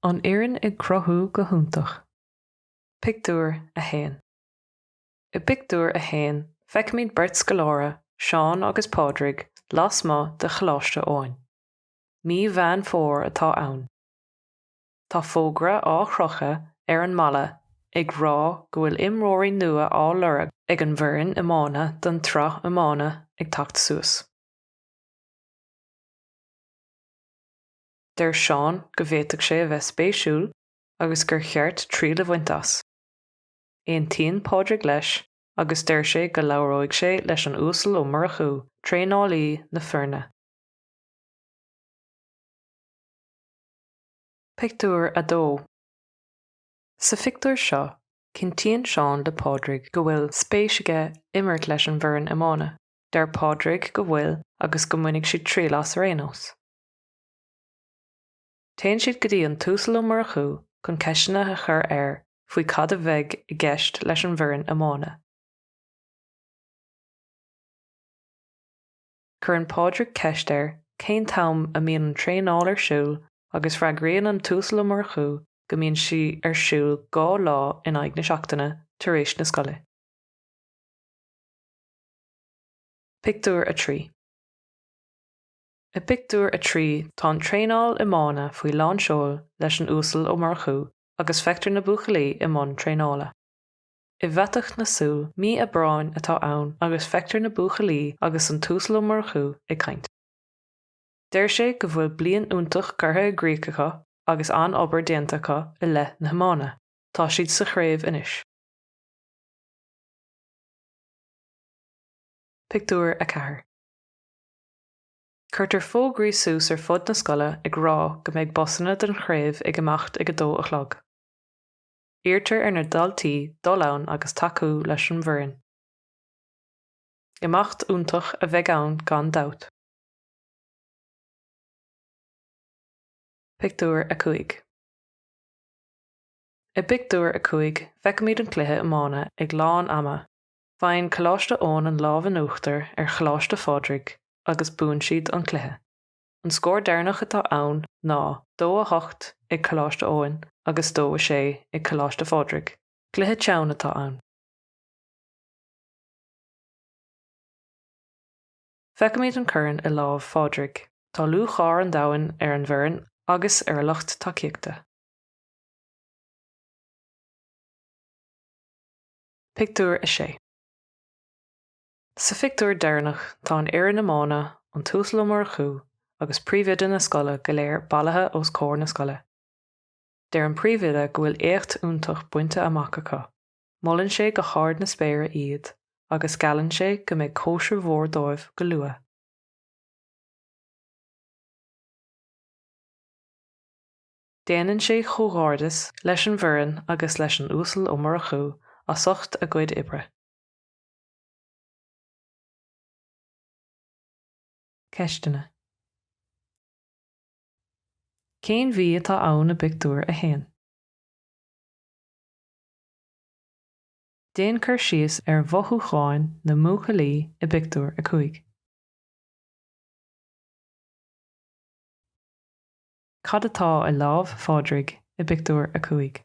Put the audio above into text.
An fhoireann ag cruthú go hiontach. Pictiúr 1 I bpictiúr a haon feicimid beirt scoláire, Seán agus Pádraig, lasmuigh de Choláiste Eoin. Mí Mheán Fómhair atá ann. Tá fógra á chrochadh ar an mballa ag rá go bhfuil imreoirí nua á lorg ag an bhfoireann iomána don tsraith iomána ag teacht suas. Deir Seán go bhféadfadh sé a bheith spéisiúil agus gur cheart triail a bhaint as. Aontaíonn Pádraig leis agus deir sé go labhróidh sé leis an Uasal Ó Murchú, traenálaí na foirne. Pictiúr 2 Sa phictiúr seo, cinntíonn Seán le Pádraig go bhfuil spéis aige imirt leis an bhfoireann iomána. Deir Pádraig go bhfuil agus go mbainfidh siad triail as ar aon nós. Téann siad go dtí an tUasal Ó Murchú chun ceisteanna a chur air faoi cad a bheidh i gceist leis an bhfoireann iomána. Cuireann Pádraig ceist air cén t-am a mbíonn an traenáil ar siúl agus freagraíonn an tUasal Ó Murchú go mbíonn sí ar siúl dhá lá in aghaidh na seachtaine tar éis na scoile. Pictiúr 3 I bpictiúr a trí tá an traenáil iomána faoi lán seoil leis an Uasal Ó Murchú agus feictear na buachaillí i mbun traenála. I bhfaiteadh na súl, mí Aibreáin atá ann agus feictear na buachaillí agus an tUasal Ó Murchú ag caint. Deir sé go bhfuil bliain iontach curtha i gcrích acu agus an-obair déanta acu i leith na hiomána, tá siad sa chraobh anois. Pictiúr 4 Cuirtear fógraí suas ar fud na scoile ag rá go mbeidh busanna don chraobh ag imeacht ag a dó a chlog. Iarrtar ar na daltaí dul ann agus tacú leis an bhfoireann. Imeacht iontach a bheidh ann gan dabht. Pictiúr 5 I bpictiúr a cúig feicimid an cluiche iomána ag lán ama, faigheann Coláiste Eoin an lámh in uachtar ar Choláiste Phádraig agus buann siad an cluiche. An scór deireanach atá ann ná dó a hocht ag Coláiste Eoin agus dó a sé ag Coláiste Phádraig. Cluiche teann atá ann. Feicimíd an corn i lámh Phádraig. Tá lúcháir an domhain ar an bhfoireann agus ar a lucht tacaíochta. Pictiúr 6. Sa phictiúr deireanach tá an fhoireann iomána, an tUasal Ó Murchú agus príomhoide na scoile go léir bailithe os comhair na scoile. Deir an príomhoide go bhfuil éacht iontach bainte amach acu, molann sé go hard na spéire iad agus geallann sé go mbeidh cóisir mhór dóibh go luath. Déanann sé chomhghairdeas leis an bhfoireann agus leis an Uasal Ó Murchú as ucht a gcuid oibre. Ceisteanna. Cén mhí atá ann i bpictiúr a haon? Déan cur síos ar mhothúcháin na mbuachaillí i bpictiúr a cúig. Cad atá i lámh Phádraig i bpictiúr a cúig?